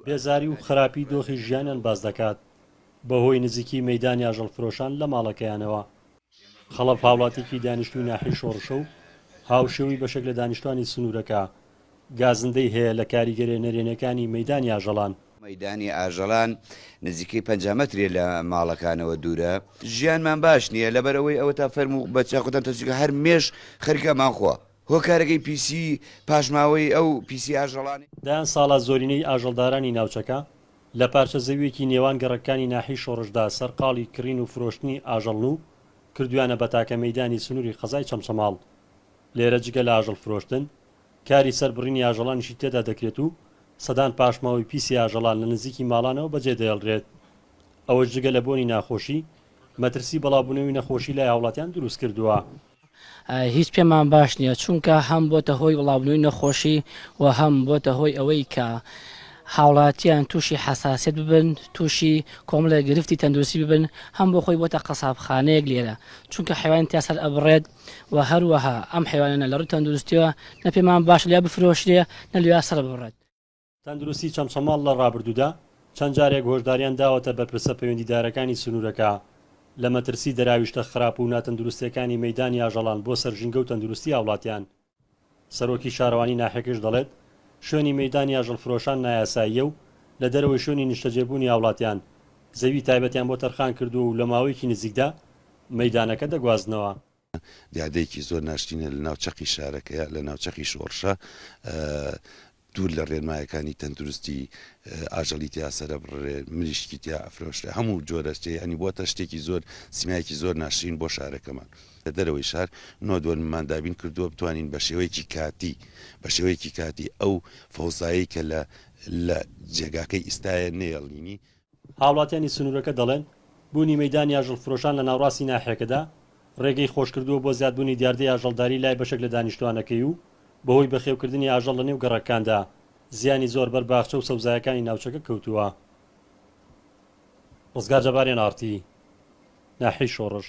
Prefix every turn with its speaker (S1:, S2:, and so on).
S1: بێزاری و خراپی دۆخی ژیانیان باس دەکات بەهۆی نزیکی مەیدانی ئاژەڵفرۆشان لە ماڵەکەیانەوە. خەڵەف هاوڵاتیکی دانیشتوی ناحیەی شۆڕشە و هاوشێوەی بەشێک لە دانیشتوانی سنورەکە، گازندەی هەیە لە کاریگەریە نەرێنیەکانی مەیدانی ئاژەڵان. مەیدانی ئاژەڵان
S2: نزیکەی پەنجا مەترێ لە ماڵەکانەوە دورە، ژیانمان باش نیە لەبەرئەوەی ئەوەتا فەرموو بە چاقوتان تەسویکە هەر مێش خەریکە ئەمانخوا. هۆکارەکەی پیسی پاشماوەیی ئەو پیسی ئاژەڵانەی. دەیان ساڵە
S1: زۆرینەی ئاژەڵدارانی ناوچەکە لە پارچە زەوییەکی نێوان گەڕەکەکانی ناحیەی شۆڕشدا سەرقاڵی کڕین و فرۆشتنی ئاژەڵن و کردویانە بە تاکە مەیدانی سنوری قەزای چەمچەماڵ لێرە جگە لە ئاژەڵ فرۆشتن کاری سەر بڕینی ئاژەڵانیشی تێدا دەکرێت و سەدان پاشماوەی پیسی ئاژەڵان لە نزیکی ماڵانەوە بەجێ دەهێڵرێت ئەوەش جگە لە بۆنی ناخۆشی مەترسی بەڵاوبونەوی نەخۆشی لای هاوڵاتیان دروست کردوە. هیچ
S3: پێمان باش نییە، چونکە هەم بۆتە هۆی بڵاوبوونەوەی نەخۆشی و هەم بۆتە هۆی ئەوەی کە هاوڵاتیان تووشی حەساسیەت ببن، تووشی کۆمەڵێک گرفتی تەندروستی ببن، هەم بۆ خۆی بۆتە قەسابخانەیەک لێرە، چونکە حەیوانی تیا سەر ئەبڕێت و هەروەها ئەم حەیوانانە لە ڕووی تەندروستییەوە نە پێمان باشە لێیا بفرۆشرێ نە لێیا سەر ببڕێت. تەندروستی
S1: چەمچەماڵ لە ڕابردوودا چەند جارێک هۆشداریان داوەتە بەرپرسە پەیوەندیدارەکانی سنوورەکە لە مەترسی دەراویشتە خراپ و ناتەندروستێکانی مەیدانی ئاژەڵان بۆ سەر ژینگە و تەندروستی هاوڵاتیان، سەرۆکی شارەوانی ناحیەکەش دەڵێت، شوێنی مەیدانی ئاژەڵفرۆشان نایاساییە و لە دەرەوەی شوێنی نیشتەجێبوونی هاوڵاتیان زەوی تایبەتیان بۆ تەرخان کردووە و لە ماوەیەکی نزیکدا مەیدانەکە دەگوازنەوە. دیاردەیەکی
S4: زۆر ناشرینە لە ناو چەقی شارەکەیە لە ناو چەقی شۆڕشە دوور لە ڕێنمایەکانی تەندروستی ئاژەڵی تیا سرە بڕێ مریشکی تیا ئەفرۆشرێ هەموو جۆرەشتی ئەنی بۆتە شتێکی زۆر سیمایەکی زۆر ناشرین بۆ شارەکەمان لە دەرەوەی شار نۆ دوەرممان دابین کردووە بتوانین بە شێوەیەکی کاتی بە شێوەیەکی کاتی ئەو فەوزایی کە لە لە جێگاکەی ئیستاە نێڵینی هاوڵاتیانی
S1: سنوورەکە دەڵێن، بوونی مەیدانی ئاژەڵفرۆشان لە ناوڕاستی ناحیەکەدا، رێگەی خۆشکردووە بۆ زیادبوونی دیاردەی ئاژەڵداری لای بەشێک لە دانیشتووانەکەی و بەهۆی بەخێوکردنی ئاژەڵ لەنێو گەڕەککاندا، زیانی زۆر بەر باخچە و سەوزایەکانی ناوچەکە کەوتووە. رزگار جەبارێن ئاڕتی ناحیەی شۆڕش.